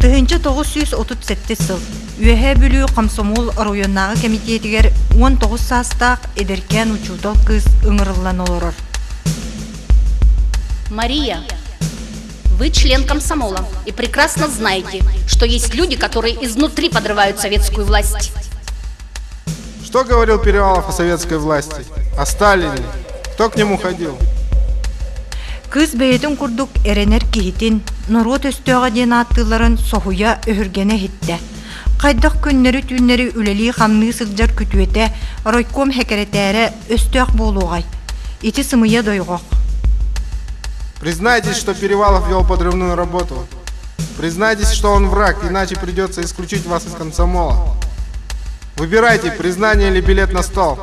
Тыһыынча тоҕус сүүс отут сэттис сыл Үөһээ Бүлүү Комсомол оройуоннааҕы кэмитиэтигэр уон тоҕус саастаах эдэркээн учуутал кыыс ыҥырыллан олорор. Мария, вы член комсомола и прекрасно знаете, что есть люди, которые изнутри подрывают советскую власть. Что говорил Перевалов о советской власти? О Сталине? Кто к нему ходил? Кыыс бэйэтин курдук эрэнэр киһитин норуот өстөөҕө диэн ааттыылларын соһуйа өһүргэнэ иһиттэ. Хайдах күннэри-түүннэри үлэлии-хамныы сылдьар күтүөтэ, ройком хэкэрэтээрэ өстөөх буолуоҕай? Ити сымыйа дойҕох. Признайтесь, что Перевалов вел подрывную работу. Признайтесь, что он враг, иначе придется исключить вас из комсомола. Выбирайте, признание или билет на стол.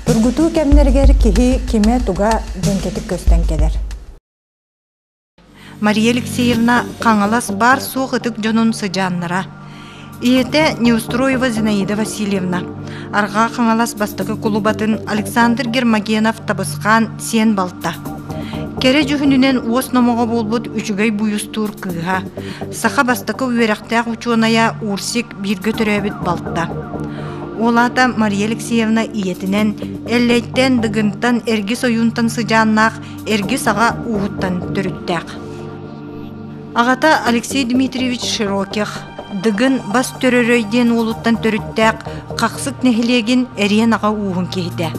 Тургутуу кэмнэригэр киһи кимэ туга дьэҥкэтик көстөн кэлэр. Мария Алексеевна Хаҥалас баар суох ытык дьонун сыдьааннара. Ийэтэ Неустроева Зинаида Васильевна, Арҕаа Хаҥалас бастакы кулубатын Александр Гермогенов табысхаан сиэн балта. Кэрэ дьүһүнүнэн уос номоҕо буолбут үчүгэй буйустуур кыыһа, Саха бастакы үөрэхтээх учуонайа УРСИК бииргэ төрөөбүт балта. Ол аата Мария Алексеевна ийэтинэн, Эллэйтэн, Дыгынтан, Эргис ойуунтан сыдьааннаах Эргис аҕа ууһуттан төрүттээх. Аҕата Алексей Дмитриевич Широких, Дыгын Бас Төрөрөй диэн уолуттан төрүттээх Хахсык нэһилиэгин Эриэн аҕа ууһун киһитэ.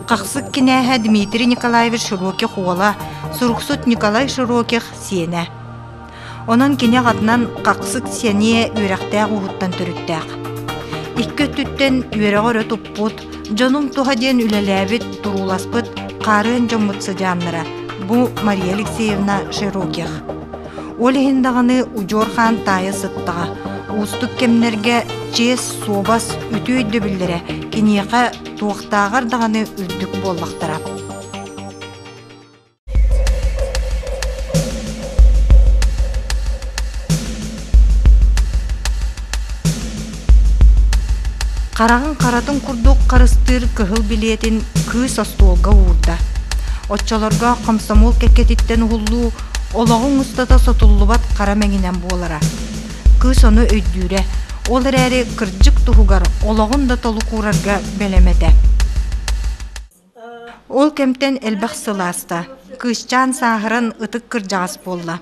Хахсык кинээһэ Дмитрий Николаевич Широких уола, суруксут Николай Широких сиэнэ. Онон кини аҕатынан хахсык сэниэ үөрэхтээх ууһуттан төрүттээх. Икки өттүттэн үөрэҕи өрө туппут, дьонуҥ туһа диэн үлэлээбит, турууласпыт хаарыан дьоммут сыдьааннара бу Мария Алексеевна Широких. Ол иһин даҕаны удьуор хаан таайа сыттаҕа. Уустук кэмнэргэ чиэс, суобас, үтүө өйдөбүллэрэ киниэхэ туохтааҕар даҕаны үрдүк буоллахтара. Хараҕын харатын курдук харыстыыр кыһыл билиэтин кыыс остуолга уурда. Оччолорго хомсомуол кэккэтиттэн уһуллуу олоҕуҥ устата сотуллубат хара мэҥинэн буолара. Кыыс ону өйдүүрэ, ол эрээри кырдьык туһугар олоҕун да толук уурарга бэлэм этэ. Ол кэмтэн элбэх сыл ааста, кыысчаан сааһыран ытык кырдьаҕас буолла.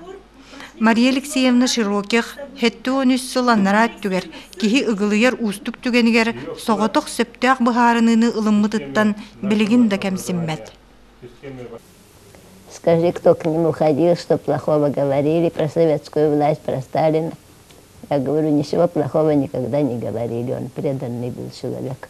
Мария Алексеевна Широких сэттэ уон үс сыл аннараа өттүгэр киһи ыгылыйар уустук түгэнигэр соҕотох сөптөөх быһаарыныыны ылыммытыттан билигин да кэмсиммэт. Скажи, кто к ним уходил, что плохого говорили, про советскую власть, про Сталина. Я говорю, ничего плохого никогда не говорили, он преданный был человек.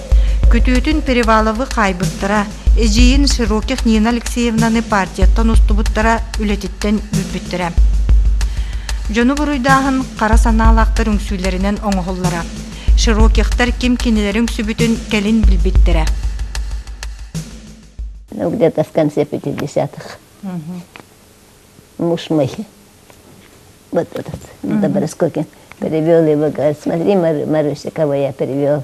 Күтүөтүн Переваловы хаайбыттара, эдьиийин Широких Нина Алексеевнаны партияттан устубуттара, үлэтиттэн үрбүттэрэ. Дьону буруйдааһын хара санаалаахтар үҥсүүлэринэн оҥоһуллара. Широкихтар ким кинилэри үҥсүбүтүн кэлин билбиттэрэ. Ну, где-то в конце 50-х. Муж мой. Вот этот, Доброскокин, перевел его, говорит, смотри, Маруся, кого я перевел.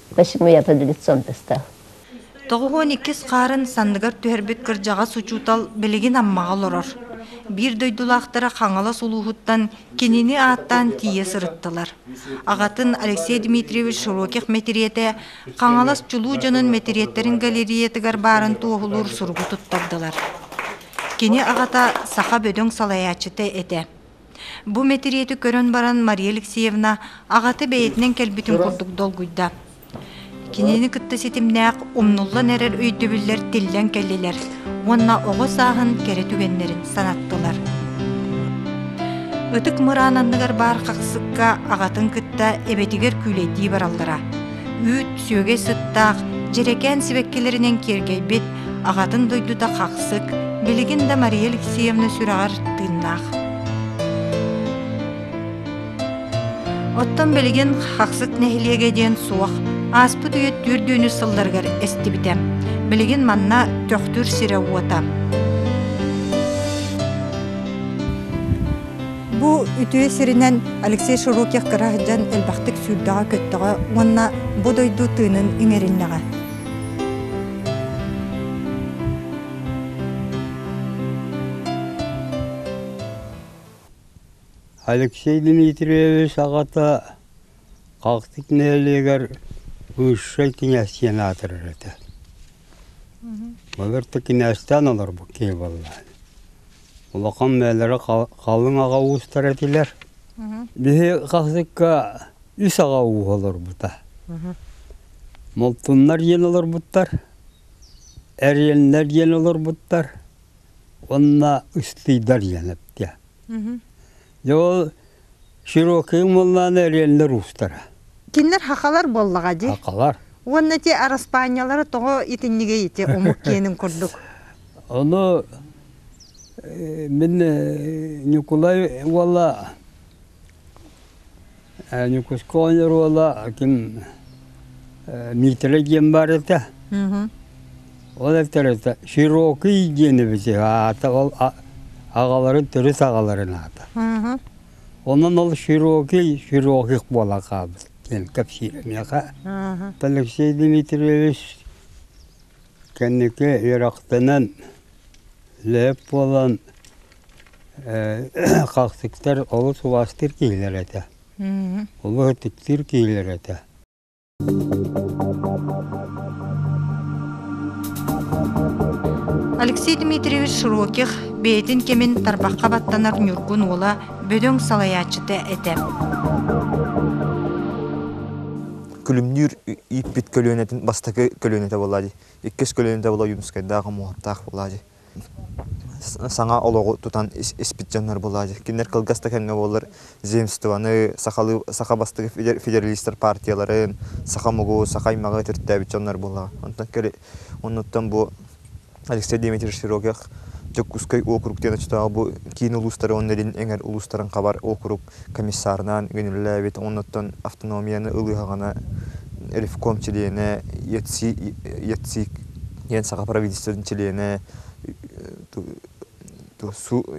Почему я под лицом стал? Тоҕус уон иккис хаарын санныгар түһэрбит кырдьаҕас учуутал билигин Аммаҕа олорор. Биир дойдулаахтара Хаҥалас улууһуттан кинини ааттаан тиийэ сырыттылар. Аҕатын Алексей Дмитриевич Широких мэтириэтэ Хаҥалас чулуу дьонун мэтириэттэрин галереятыгар баарын туоһулуур суругу туттардылар. Кини аҕата саха бөдөҥ салайааччыта этэ. Бу мэтириэти көрөн баран Мария Алексеевна аҕата бэйэтинэн кэлбитин курдук долгуйда. Кинини кытта ситимнээх умнуллан эрэр өйдөбүллэр тиллэн кэллилэр уонна оҕо сааһын кэрэ түгэннэрин санаттылар. Ытык мыраан анныгар баар хахсыкка аҕатын кытта эбэтигэр күүлэйдии бараллара. Үүт сүөгэй сыттаах, дьэрэкээн сибэккилэринэн киэргэйбит аҕатын дойдута хахсык, билигин да Мария Алексеевна сүрэҕэр тыыннаах. Оттон билигин Хахсык нэһилиэгэ диэн суох, ааспыт үйэ түөртүүнү сылларыгар эстибитэ. Билигин манна Төхтүр сирэ-уота. Бу үтүө сиринэн Алексей Широких кыра сылдьан элбэхтик сүүрдэҕэ-көттөҕө уонна бу дойду тыынын иҥэриннэҕэ. Алексей Дмитриевич аҕата Хахтык нэһилиэгэр высшай князь аатырар этэ. Былырты князьтаан олорбут киһи буоллаан. Улахан бээлэрэ халыҥ аҕа уустар этилэр. Биһи хахсыкка үс аҕа ууһа олорбута. Молтуннар диэн олорбуттар, Эриэннэр диэн олорбуттар уонна Ыстыйдар диэн эптиэ. Дьэ ол Широкайым уоллаана Эриэннэр уустара. Кинилэр хахалар буоллаҕа дии. Хахалар. Уонна ити араспаанньалара тоҕо итиннигэй ити омук киэнин курдук? Ону мин Ньукулай уола Ньукуускаҕа оонньуур уола ким Миитэрэй диэн баар этэ. Ол этэрэтэ Широкий диэн эбит үһү аата ол аҕаларын төрүт аҕаларын аата. Онон ол Широкий Широких буола хаалбыт диэн кэпсиир миэхэ. Алексей Дмитриевич кэнники үөрэхтэнэн, лээп буолан Хахсыктар олус улаастыыр киһилэр этэ, улуу-ытыктыыр киһилэр этэ Алексей Дмитриевич Широких бэйэтин кэмин тарбахха баттанар Ньургун уола бөдөҥ салайааччыта этэ Күлүмнүүр ииппит көлүөнэтин бастакы көлүөнэтэ буолла иккис көлүөнэтэ була Юмскайдаах, Омоҕоттаах буолла саҥа олоҕу тутан испит дьоннор буолааччы кинилэр кылгас да кэмҥэ буоллар земствоны сахалыы саха бастакы федералистар партияларын саха омугу саха аймаҕы төрүттээбит дьоннор буоллаҕа онтон оннуттан бу алексей дмитриевич строгих дьокуускай округ диэн оччотооҕу бу киин улуустары уонна илин эҥэр улуустарын хабар округ комиссарнаан гүнүрүлээбит оннуттан автономияны ылыһаҕына ревком чилиэнэ ЯЦИ ЯЦИК диэн саха правительствотын чилиэнэ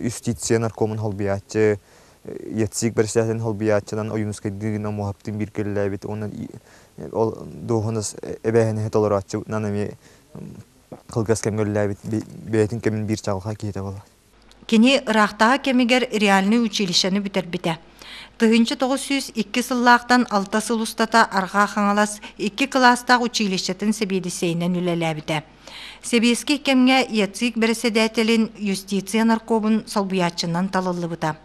юстиция наркомун холбуйааччы ЯЦИК бэрэссэдээтэлин холбуйааччынан Ойуунускайдыы гына муоһаптыын биир кэллээбит уонна ол дуоһунас эбээһинэһи толорооччутунан эмиэ кылгас кэмҥэ үлэлээбит бэйэтин кэмин биир чаҕылхай киһитэ буолар Кини ыраахтааҕы кэмигэр реальнай училищены бүтэрбитэ. Тыһыынча тоҕус сүүс икки сыллаахтан алта сыл устата Арҕаа Хаҥалас икки кылаастаах училищетын сэбиэдиссэйинэн үлэлээбитэ. Сэбиэскэй кэмҥэ ЯЦИК бэрэссэдээтэлин юстиция наркомун солбуйааччынан талыллыбыта.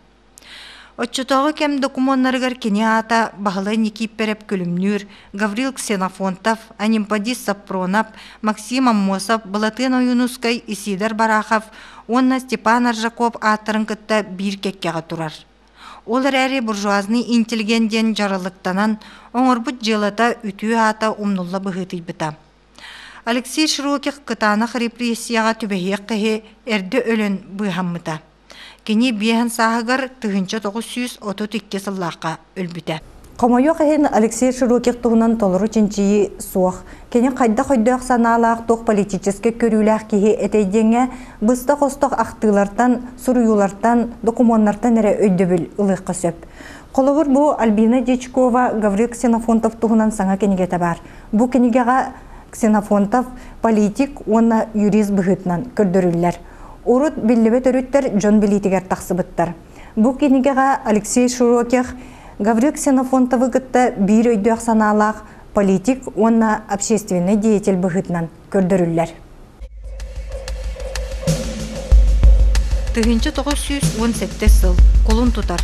Оччотооҕу кэм докумуоннарыгар кини аата Баһылай Никииппэрэп Күлүмнүүр, Гаврил Ксенофонтов, Анемподист Сапронов, Максим Аммосов, Былатыан Ойуунускай, Исиидэр Барахов уонна Степан Аржаков ааттарын кытта биир кэккэҕэ турар. Ол эрээри буржуазный интеллигент диэн дьаралыктанан оҥорбут дьыалата үтүө аата умнулла быһыытыйбыта. Алексей Широких кытаанах репрессияҕа түбэһиэх киһи эрдэ өлөн быыһаммыта. Кини биэһин сааһыгар тыһыынча тоҕус сүүс отут икки сыллаахха өлбүтэ. Хомойуох иһин Алексей Широких туһунан толору чинчийии суох. Кини хайдах өйдөөх-санаалаах, туох политическай көрүүлээх киһи этэй диэҥҥэ быстах-остох ахтыылартан, суруйуулартан, докумуоннартан эрэ өйдөбүл ылыахха сөп. Холобур, бу Альбина Дьячкова, Гаврил Ксенофонтов туһунан саҥа кинигэтэ баар. Бу кинигэҕэ Ксенофонтов политик уонна юрист быһыытынан көрдөрүллэр. Урут биллибит өрүттэр дьон билиитигэр тахсыбыттар. Бу кинигэҕэ Алексей Широких Гаврил Ксенофонтовы кытта биир өйдөөх санаалаах политик уонна общественнай деятель быһыытынан көрдөрүллэр. Тыһыынча тоҕус сүүс уон сэттис сыл кулун тутар.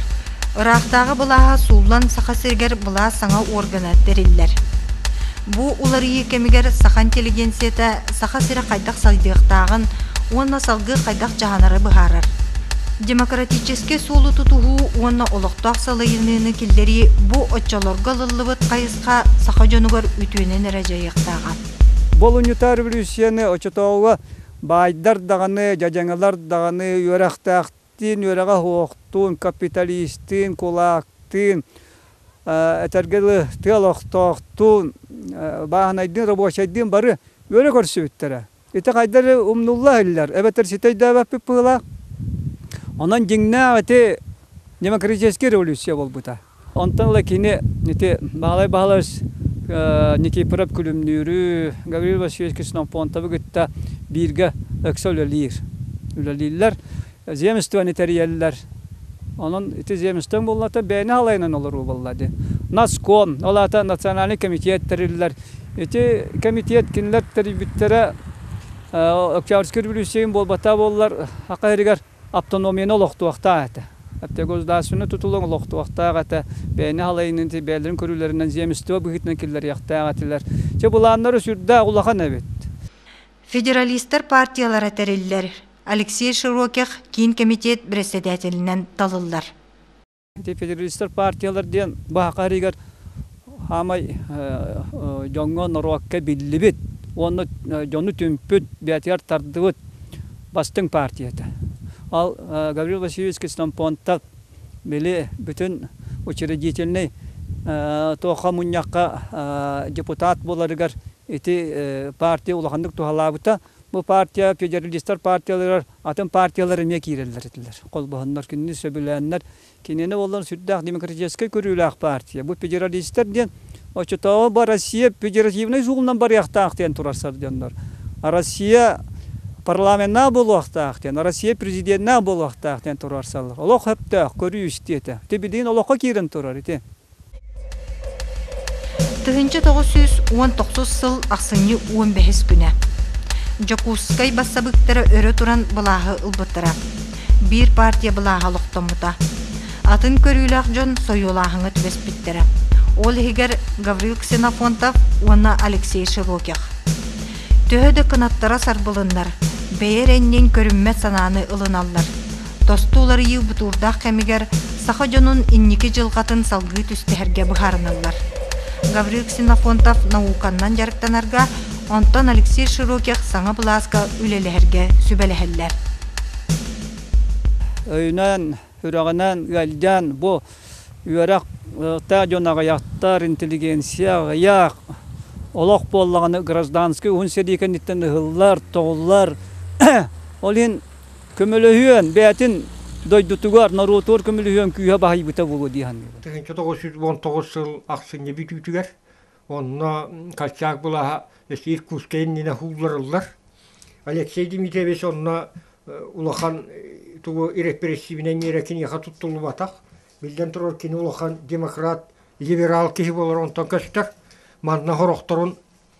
Ыраахтааҕы былааһа сууллан Саха сиригэр былаас саҥа органа тэриллэр. Бу уларыйыы кэмигэр саха интеллигенцията Саха сирэ хайдах сайдыахтааҕын уонна салгыы хайдах дьаһанары быһаарар. Демократическай суолу тутуһуу уонна олохтоох салайыныыны киллэрии бу оччолорго ылыллыбыт хайысха саха дьонугар үтүөнэн эрэ дьайыахтааҕа. Болуньута революцияны очотооҕуга баайдар даҕаны, дьадьаҥалар даҕаны үөрэхтээх Диин үөрэҕэ-оһуохтуун, капиталистыын, кулаактыын, этэргэ дылы тыал охтоохтуун, бааһынайдыын, рабочайдыын бары үөрэ көрсүбүттэрэ. Ити хайдары умнулла иһиллэр, эбэтэр ситэй да эбэппит быһыылаах. Онон дьиҥнээх ити демократическай революция буолбута. Онтон ыла кини ити Баһылай Баһылач Никифоров Күлүмнүүрү, Гаврил Васильевич Ксенофонтовы кытта бииргэ ыкса үлэлиир. Үлэлииллэр, земствоны тэрийэллэр. Онон ити земствоны буоллата бэйэни халайынан олоруу буолла дии. Наскон, ол аата национальный комитет тэриллэр. Ити комитет кинилэр тэрийбиттэрэ Октябрьскай революциятын буолбата буоллар, саха иһигэр Автономияны олохтуохтаах этэ. Оптиогосударственнай тутулу олохтуохтаах этэ. Бэйэни халайынытыы, бэйэлэрин көрүүлэринэн земество быһыытынан киллэриэхтээх этилэр. Чэ, былааннара сүрдээх улахан эбит. Федералистар партиялара тэриллэр Алексей Широких киин кэмитиэт бэрэссэдээтэлинэн талыллар. Ити федералистар партиялар диэн баһаха иһигэр хаамай дьоҥҥо, норуокка биллибит уонна дьону түмпүт, бэйэтигэр тардыбыт бастыҥ партия этэ. Ол Гаврил Васильевич Кисломпонтов били бүтүн учредительнай туохха мунньахха депутат буоларыгар ити партия улаханнык туһалаабыта. Бу партия федералистар партияларыгар атын партиялар эмиэ киирэллэр этилэр. Холбоһоннор кинини сөбүлээннэр, кинини буоллар сүрдээх демократическай көрүүлээх партия. Бу федералистар диэн оччотооҕу бу Россия федеративнай суолунан барыахтаах диэн турар сардьоннор. А Россия парламеннаах буолуохтаах диэн, Россия президеннаах буолуохтаах диэн туруорсаллар. Олох сөптөөх көрүү истиэ этэ. Ити билигин олоххо киирэн турар ити. Тыһыынча тоҕус сүүс уон тохсус сыл ахсынньы уон бэһис күнэ Дьокуускай бассабыыктара өрө туран былааһы ылбыттара. Биир партия былааһа олохтоммута. Атын көрүүлээх дьон сойуолааһыҥҥа түбэспиттэрэ. Ол иһигэр Гаврил Ксенофонтов уонна Алексей Широких. Төһө да кынаттара сарбылыннар, бэйэ эрэнниин көрүммэт санааны ылыналлар. тосту уларыйыы бутуурдаах кэмигэр саха дьонун инники дьылҕатын салгыы түстэһэргэ быһаарыналлар. Гаврил Ксенофонтов науканнан дьарыктанарга, онтон Алексей Широких саҥа былааска үлэлэһэргэ сүбэлэһэллэр. өйүнэн, сүрэҕинэн ыалдьан бу үөрэхтээх дьон аҕыйахтар интеллигенция аҕыйах олох буоллаҕына гражданскай уһун сэрии кэнниттэн ыһыллар тоҕуллар ол иһин Көмөлөһүөн, бэйэтин дойдутугар, норуотугар көмөлөһүөн күүһэ баһыйбыта буолуо дии саныыбын. Тыһыынча тоҕус жүз уон тоҕус сыл ахсынньы бүтүүтүгэр онно Колчак былаһа эс Иркутскай иннинэ уулларыллар. Алексей Дмитриевич онно улахан тугу ирэппэрэссиибинэн миэрэ киниэхэ туттуллубатах. Биллэн турар кини улахан демократ, либерал киһи буолар онтон көстөр. Манна хорохторун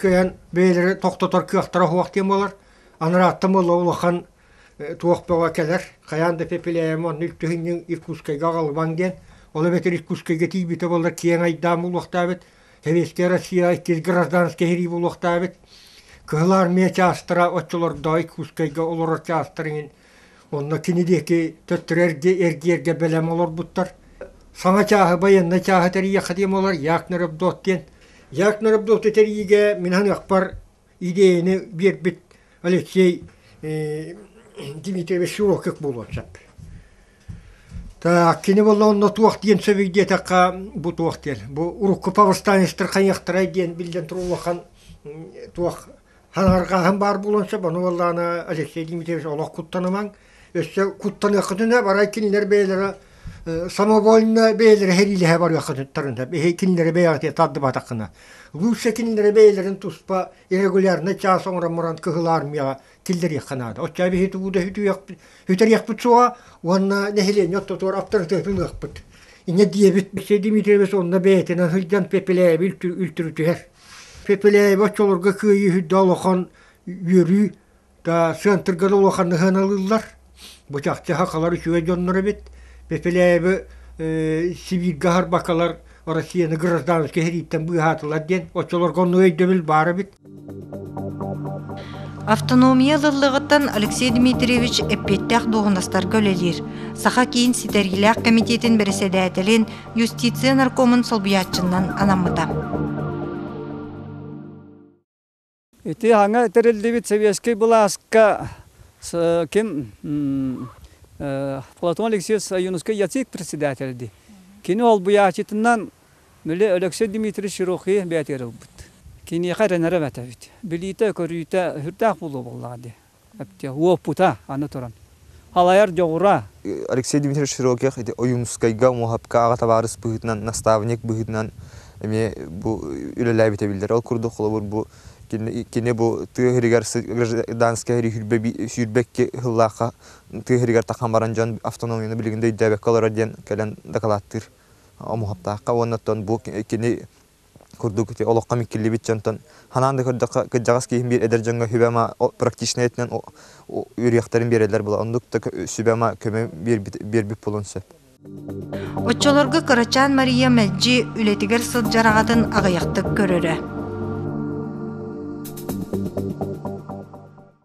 кыайан бэйэлэрэ тохтотор кыахтара суох диэн буолар анарааттан буолла улахан туох бөҕө кэлэр хайаан да пепеляем онно үптүһүнньүҥ иркутскайга аҕалбаҥ диэн ол эбэтэр иркутскайга тиийбитэ боллор киэҥ айдаан буолуохтаабыт советскай россия иккис гражданскай сэрии буолуохтаабыт кыһыл армия чаастара оччолордоо иркутскайга олорор чаастар иҥин Онно кини диэки төттөрү эргэ эргиэргэ бэлэм олорбуттар. Саҥа чааһы байыаннай чааһы тэрийиэххэ диэм олор Яакнер Авдот диэн. Яакнер Авдоту тэрийиигэ мин ханыахпар идеяны биэрбит Алексей э, Дмитриевич Шурокик буолуон сөп. Так, кини болла онно туох диэн сөбүй диэтэххэ бу туох диэн. Бу урукку повстанецтар хайыахтарай диэн биллэн турулахан туох Харарҕааһын баар булан сөп, ону уоллаана Алексей Дмитриевич олох куттанымаҥ. Өссө куттаныаххытына барай кинилэр бэйэлэрэ самовольно бэйэлэрэ хэриилэһэ барыаххытыттарына бэһи кинилэри бэйэҕитэ тардыбатаххына лучше кинилэри бэйэлэрин туспа иррегулярно час оҥорон муран кыһыл армияҕа киллэриэххэ наада оччо биһи тубууда үтэриэхпит суоҕа уонна нэһилиэнньэ оттотугар аптарытыатын ылыахпыт инньэ диэбит Алексей Дмитриевич онно бэйэтинэн сылдьан пепелээби үлтүрүтүһэр Пепеляева оччолорго кыайыыһыйда улахан үөрүү да центрга да улахан сыһыаналыыллар. Бу чахчыха халар үчүгэй дьоннор эбит. Пепеляевы э, Сибирьга харбакалар Россияны гражданскай хирииттэн быыһаатылар диэн оччолорго онну өйдөбүл баар эбит. Автономия лыллыгыттан Алексей Дмитриевич эппиэттээх дуоһунастарга үлэлиир. Саха киин ситэргилээх комитетин бэрэссэдээтэлин юстиция наркомун солбуйааччынан анаммыта. Ити аңа тэриллибит Советский былааска ким Платон Алексеевич Юнускай яцик председателди. Кини олбуяачытынан Мүле Алексей Дмитриевич Рухи бәтер ылбыт. Киниэхэ ренере бәтәбит. Билиите көрүүтэ хүртээх булу боллаҕа Уопута, аны туран, халайар дьоҕура. Алексей Дмитриевич Широких ити Ойуунускайга, Муоһапкааҕа табаарыс быһыытынан, наставник быһыытынан эмиэ бу үлэлээбитэ биллэр. Ол курдук, холобур, бу кини бу тыа иһигэр гражданскай сүүрбэкки сыллаахха тыа иһигэр тахсан баран дьон автономияны билигин да өйдөөбөккө олорор диэн кэлэн дакылааттыыр Муоһаптаахха уонна оттон бу кини курдук ити олоххо миккиллибит дьонтон ханаан да көрдөххө кырдьаҕас киһим биир эдэр дьоҥҥо сүбэ-ама практичнай өттүнэн үөрүйэхтэрин биэрэллэр була оннук да сүбэ-ама көмө биэрбит буолуон сөп Оччолорго кырачаан Мария мэлдьи үлэтигэр сылдьар аҕатын аҕыйахтык көрөрө.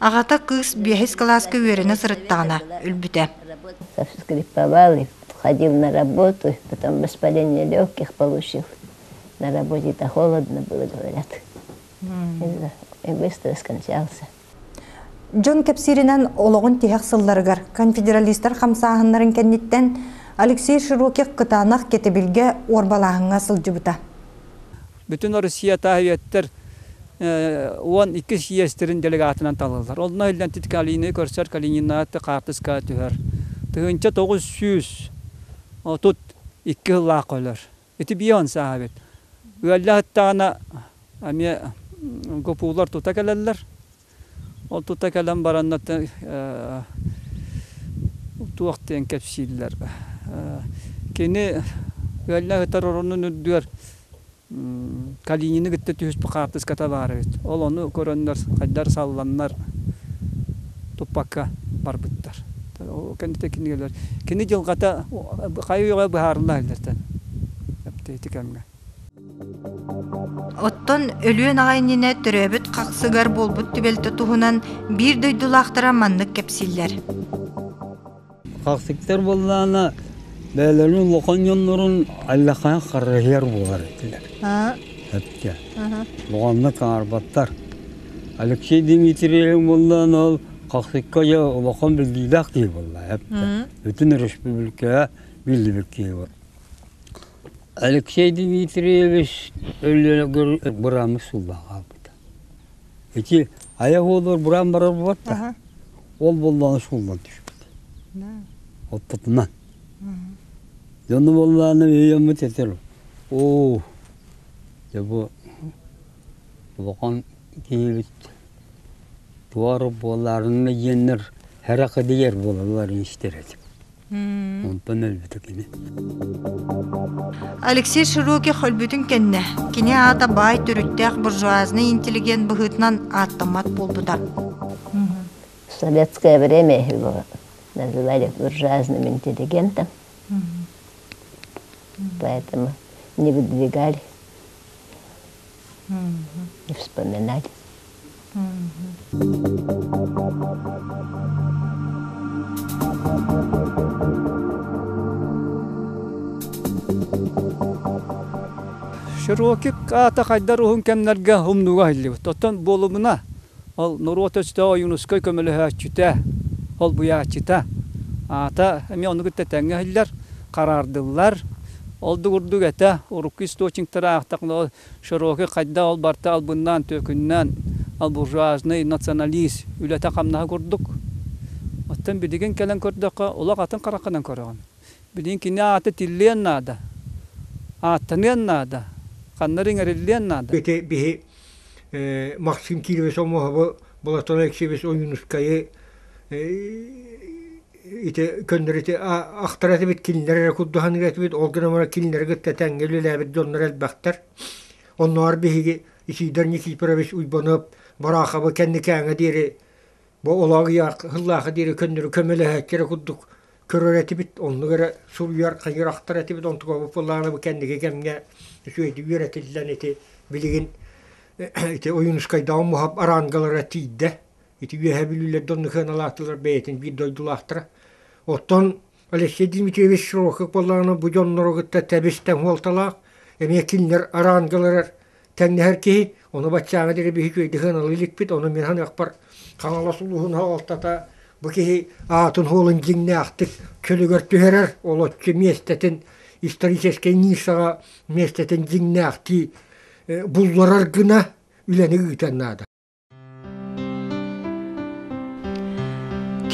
Аҕата кыыс биэһис кылааска үөрэнэ сырыттаҕына өлбүтэ. Скрипковал, ходил на работу, потом воспаление легких получил. На работе-то холодно было, говорят. И быстро скончался. Дьон кэпсииринэн олоҕун тиһэх сылларыгар конфедералистар хамсааһыннарын кэнниттэн Алексей Широких кытаанах кэтэбилгэ уорбалааһыҥҥа сылдьыбыта. Бүтүн Россия таас үйэттэр уон иккис иэстэрин делегатынан талыллар. Онно иллэнтит Калины көрсөр Калининаат хаартыска түһэр. Тыһыынча тоҕус сүүс отут икки сыллаах өлөр. Ити биир сааһабыт. Ыаллаһыттаҕына эмиэ гопулар тута кэлэллэр. Ол тута кэлэн бараннар туох диэн кэпсииллэр кини ыалльна сытар оронун үрдүгэр калинины кытта түһүспүт хаартыската баар эбит ол ону көрөннөр хайдар салланнар туппакка барбыттар ол кэнниттэн кинигэлэр кини дьылҕата хайа үйэҕэ быһаарылла иһиллэртэн ити кэмҥэ Оттон Өлүөн аҕа иннинэ төрөөбүт хахсыгар буолбут түбэлтэ туһунан биир дойдулаахтара маннык кэпсииллэр. Хахсыктар буоллаана бэйэлэрин улахан дьоннорун аллакаан харыһыар буолар этилэр. Этке. Буҕаннык аарбаттар. Алексей Дмитриев буоллаана ол хахсыкка я улахан билгиилээх киһи буолла. Бүтүн республикаға белдибір киһи Алексей Дмитриевич Өлүөнэгэ бырааһыммыт сылбаҕа хаалбыта. Ити айах уолугар быраан барар буолбат да, ол буоллаҕына суумман түспүтэ. Оппутунан. Дьону буоллаҕына өйөммүт этэр оо дьэ бу улахан киһибит туора буолаарыҥҥа диэннэр һэрэхэ дигэр буолаллар истэр этим. Онтон өлбүтэ кини. Алексей Широких өлбүтүн кэннэ кини аата баай төрүттээх буржуазный интеллигент быһыытынан ааттаммат буолбута. В советское время их называли буржуазным интеллигентом, поэтому не выдвигали Вспоминать. Широкик аата хайдар уһун кэмнэргэ умнуга айыллыбыт. Оттон буолумуна, Ол норуот өстөөҕө Ойуунускай көмөлөһөөччүтэ, холбуйааччыта. Аата эмиэ ону кытта тэҥҥэ иһиллэр, хараардыллар. Ол да курдук этэ, урукку источниктары аахтаххына, широкий хайдах ол барыта албыннаан-түөкүннээн, албуржуажный националист үлэтэ-хамнаһа курдук. Оттон билигин кэлэн көрдөххө, олох атын хараххынан көрөҕүн. Билигин кини аата тиллиэн наада, ааттаныан наада, ханна эрэ иҥэриллиэн наада. Ити биһи Максим Кирович Омоһобу Болотоно Эксибис Ойуунускайы ити көннөрүти ахтар этибит, кинилэр эрэ курдуһаныга этибит, ол гынан кинилэри кытта тэҥҥэ үлэлээбит дьоннор элбэхтэр. Оннугар биһиги Исиидэр Никифорович Уйбанов Бораахабы кэнникээҥэ диэри Бу олоҕу диэри көннөрү көмөлөһөөччүлэр курдук көрөр этибит, оннук эрэ суруйар, хайырахтар этибит, онтуга буппалаана бу кэнники кэмҥэ үчүгэйдик үөрэтиллэн ити билигин ити Ойуунускайдааҕы муһап арангалара тиийдэ. Ити үөһэ бүлүүлэрдэ онну кыаналаатылар бэйэтин биир дойдулаахтара. Оттон Алексей Дмитриевич Широков буоллаҕына бу дьоннору кытта тэбис тэҥ хуолталаах, эмиэ кинилэр арангаларар Тэҥнэһэр киһи, ону баччааҥы диэри биһик үөйдэһэн ылыы иликпит, ону мин ханыахпар Хаҥалас улууһун аҕалтата бу киһи аатын уолун дьиҥнээхтик чөлүгэр түһэрэр, олоччу миэстэтин, историческай ниссаҕа миэстэтин дьиҥнээхтии булларар гына үлэни ыытыан наада.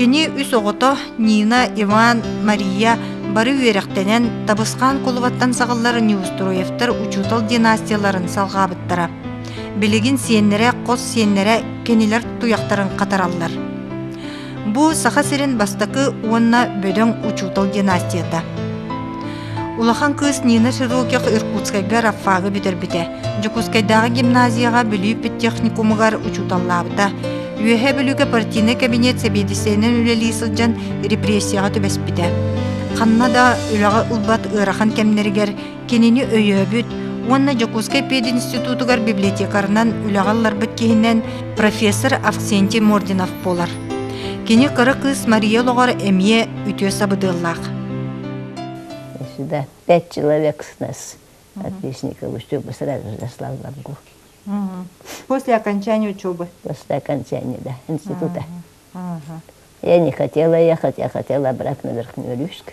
Кини үс оҕото Нина, Иван, Мария бары үөрэхтэнэн Табысхаан кулубаттан саҕыллар Неустроевтар учуутал династияларын салҕаабыттара. Билигин сиэннэрэ, хос сиэннэрэ кинилэр туйахтарын хатараллар. Бу Саха сирин бастакы уонна бөдөҥ учуутал династията. Улахан кыыс Нина Широких Иркутскайга Раффагы бүтэрбитэ. Дьокуускайдааҕы гимназияҕа Бүлүү педтехникумугар учууталлаабыта. Үөһээ Бүлүүгэ партийнай кабинет сэбиэдиссэйинэн үлэлии сылдьан репрессияҕа түбэспитэ. Ханна да үлэҕэ ылбат ыарахан кэмнэригэр Кинини өйөөбүт уонна Дьокуускай пединститутугар библиотекарынан үлэҕэ ылларбыт киһинэн профессор Авксентий Мординов буолар. Кини кыра кыыс Мария олоҕор эмиэ үтүө сабыдыаллаах. Всегда пять человек с нас отличников учебы сразу же заслал в Оренбурге. После окончания учебы? После окончания, да, института. Я не хотела ехать, я хотела обратно в Верхнюю Рюшк.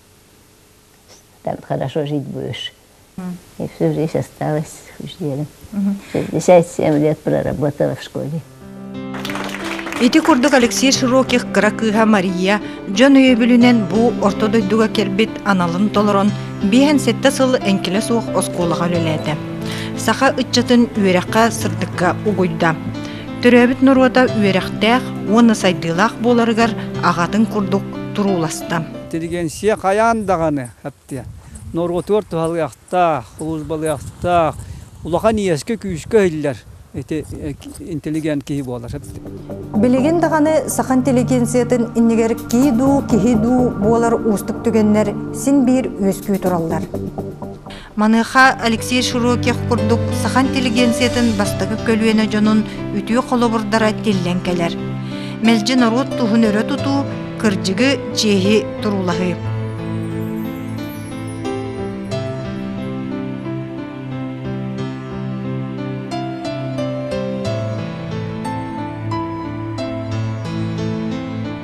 Так хорошо жить будешь. И всю жизнь осталась вождем. 67 лет проработала в школе. Ити курдук Алексей Широких кыра кыыһа Мария дьон өйөбүлүнэн бу орто дойдуга кэлбит аналын толорон биэһэн сэттэ сыл эҥкилэ суох оскуолаҕа үлэлээтэ. Саха ыччатын үөрэххэ сырдыкка угуйда. Төрөөбүт норуота үөрэхтээх уонна сайдыылаах буоларыгар аҕатын курдук турууласта. интеллигенция хайаан даҕаны хаптыа. Норуотугар туһалыахтаах, службалыахтаах, улахан иэскэ, күүскэ иһиллэр ити интеллигент киһи буола сыттык. Билигин даҕаны саха интеллигенциятын иннигэр киһи дуу, киһи дуу буолар уустук түгэннэр син биир үөскүү тураллар. Маныаха Алексей Широких курдук саха интеллигенциятын бастакы көлүөнэ дьонун үтүө холобурдара тиллэн кэлэр. Мэлдьи норуот туһун өрө тутуу, кырдьыгы, чиэһи туруулаһыы.